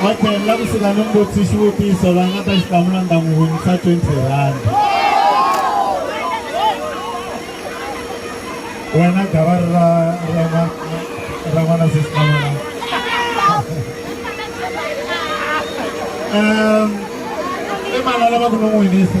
Okay, ni lava ku suka ni mbutsi xivutiso va nga ta xi hlamula ni ta n'wi winisa 20 rand wena gavari ra ra n'wana sisikamana um i mani a lava ku ni n'wi winisa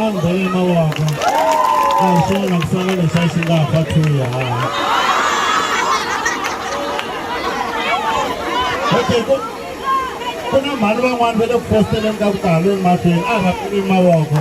a ndzi bele mavoko a hi swona ku sala lexi a xi nga fa thuya okay ku ku na mhani van'wani va le ku fositeleni ka vutalo emahlweni a va pfuli mavoko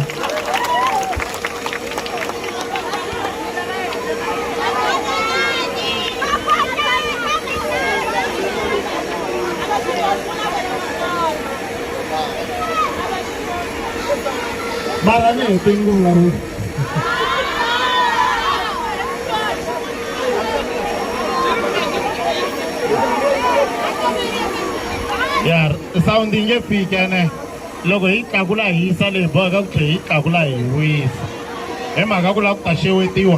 mara ni hete ni ku vulavula ya sound yi nge fiki ene loko hi tlakula hi yisa leyi boheka ku tlhe hi tlakula hi wisa hi mhaka ku lava ku ta xewetiwa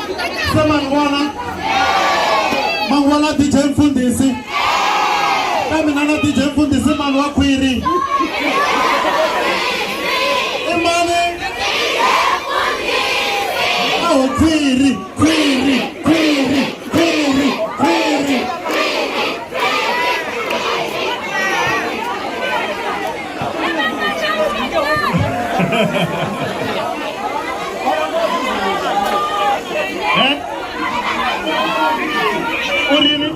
se ma ni vona ma ni vona dj mfundhisi ka mina na dj mfundhisi mani wa khwiri i mani a ho khwiri khwiri khwiri khwiri khwiri Eh? u ri yini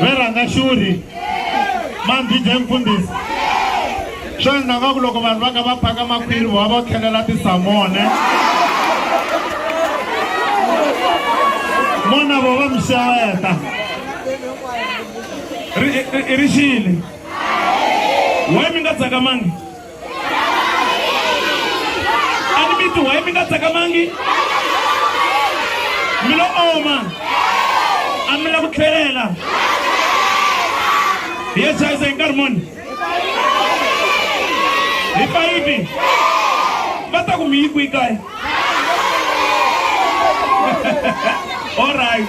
ve rhanga xuri mambhidya mfundhisi swo endla nga ku loko vanhu va ka va phaka makhwiri va va tlhelela tisamone mona vo va mi xeweta i ri xile why mi nga tsakamangi a ni mi ti why mi nga tsakamangi mi lo oma a mi la ku tlhelela hi ye chayisa hi nkarhi moni hi fayipi va ta ku mi yi kwi kaya all right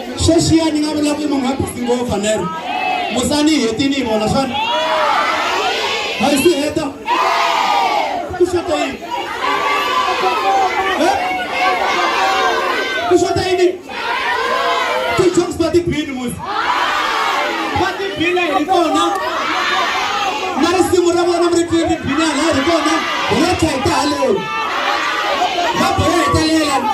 sweswiya ni nga vula ku munhu a bisi ngopfu nero musani hi hetini hi vona xana a hi si heta ku xota yini ku xota yini ti-jokes va tibini musi va tibile hi kona na risimu ra vona mi ri twi ri bini halaya hi kona hi ya tshayita haleyo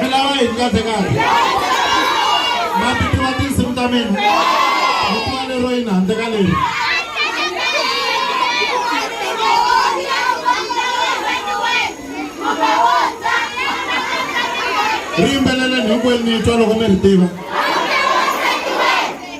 milava yini kahle kahle ma ti tiva tinsimu ta mina mi tiva lero yini handle ka leri ri yimbeleleni hinkwenu ni twa loko mi ri tiva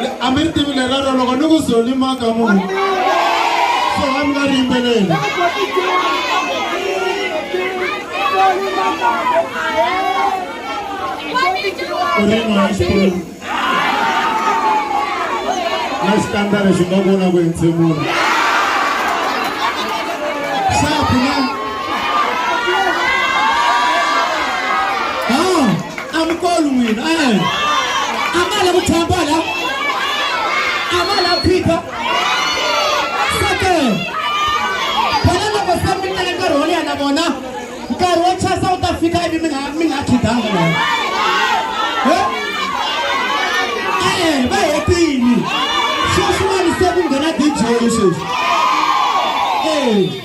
Le- a mi ri tivi lerero loko ni ku zolima ka munhu so a mi nga ri yimbeleli ku ri n'wana xikulu na xikandza lexi nga vona ku entshemula xa pfuna a mi kolu n'wina e a ma la ku tshamba la a ma la phika sake vona loko se mi teka nkarhi wo leha na vona nkarhi wo chasa wu ta fika ivi mi nga mi nga khidanga na yona e-e va hetini sweswiwani se ku nghena dj sweswi e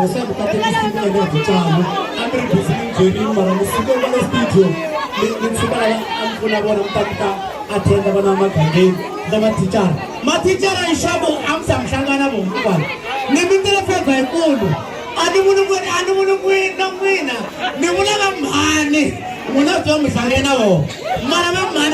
Jose mukatekisimi ya vutswalo a mi ri busy ni byelini mara mi suke va le studio mi mi tshuka lava a mi pfuna vona mi ta mi ta attenda vana va magangeni na mathicara mathicara hi xavo a mi za mi hlangana vo hinkwavo ni mi tele fevha hikulu a ni vuli n'wini a ni vuli n'wini na n'wina ni vula va mhani n'wina byo mi hlangana vona mara va mhani